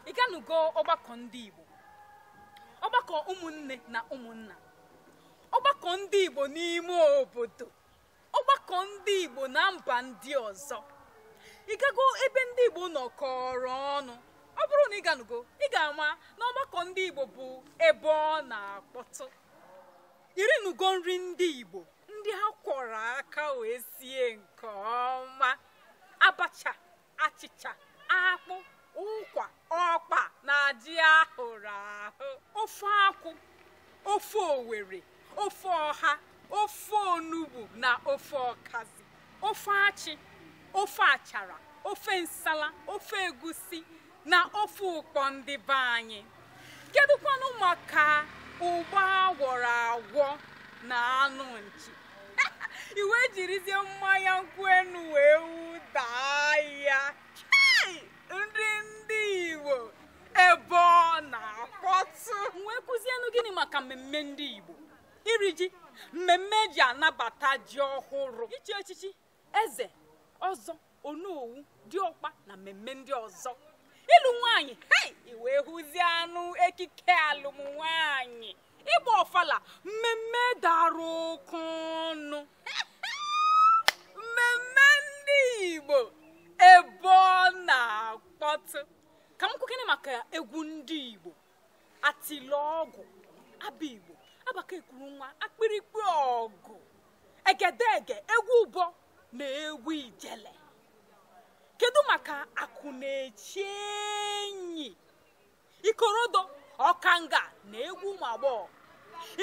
ị ganugo ọgbakọ ndị Igbo ọgbakọ ụmụnne na ụmụnna ọgbakọ ndị Igbo n'ime obodo ọgbakọ ndị Igbo na mba ndị ọzọ ị gago ebe ndị Igbo nọkọrọ ọnụ ọ bụrụ na ị ganugo ị ga-ama na ọgbakọ ndị Igbo bụ ebe ọ na-akpọtụ i rinugo nri ndị Igbo ndị a kwọrọ aka wee sie nke ọma abacha achịcha akpụ ụkwa ọkpa na ji a hụrụ ahụ ofe akwụ ofe Owere ofe ọha ofe onugbu na ofe ọkazi ofe achị ofe achara ofe nsala ofe egusi na ofe ụkpọ ndị be anyị kedụkwanụ maka ụgba a gwọrọ agwọ na anụ nchi i wee jirizie mmanya nkwụ enu wee wụdaa ya nri ndị Igbo ebe ọ na-akpọtụ m wee kwuzienụ gịnị maka mmemme ndị Igbo iri ji mmemme e ji anabata ji ọhụrụ ichi echichi eze ọzọ onowu diọkpa na mmemme ndị ọzọ ịlụ nwaanyị hei i wee hụzienụ ekike alụm nwaanyị ịgba ọfala mmemme dara oke ọnụ mmemme ndị igbo ebe ọ na-akpọtụ ka m kwukene maka egwu ndị igbo atịlọgwụ abigbo agbacha ekuru nwa ikpirikpi ọgụ egedege egwu ụbọ na egwu ijele kedu maka akwụ na-eche enyi ikorodo ọkanga na egwu ụmụ agbọghọ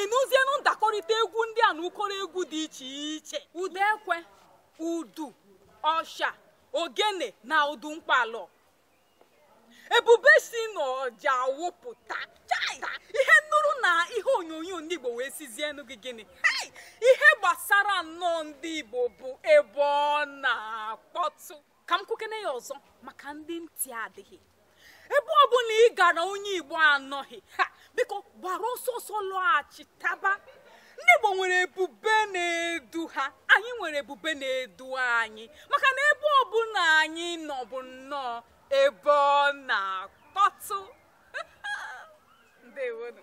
ị nụzienụ ndakọrịta egwu ndị a na ụkọrọ egwu dị iche iche ụda ekwe udu ọsha ogene na udu mkpalọ ebube si n'ọja awụpụta ihe nụrụ na ihe onyonyo ndị igbo wee sịzienụ gị gịnị hei ihe gbasara nnọọ ndị igbo bụ ebe ọ na-akpọtụ ka m kwukene ya ọzọ maka ndị ntị adịghị ebe ọ bụla ị gara onye igbo anọghị ya biko gbara ọsọ ọsọ lọghachitaba ndị Igbo nwere ebube na-edu ha anyị nwere ebube na-edu anyị maka na ebe ọbụla anyị nọ bụ nnọọ ebe ọ na-akpọtụ ndewonụ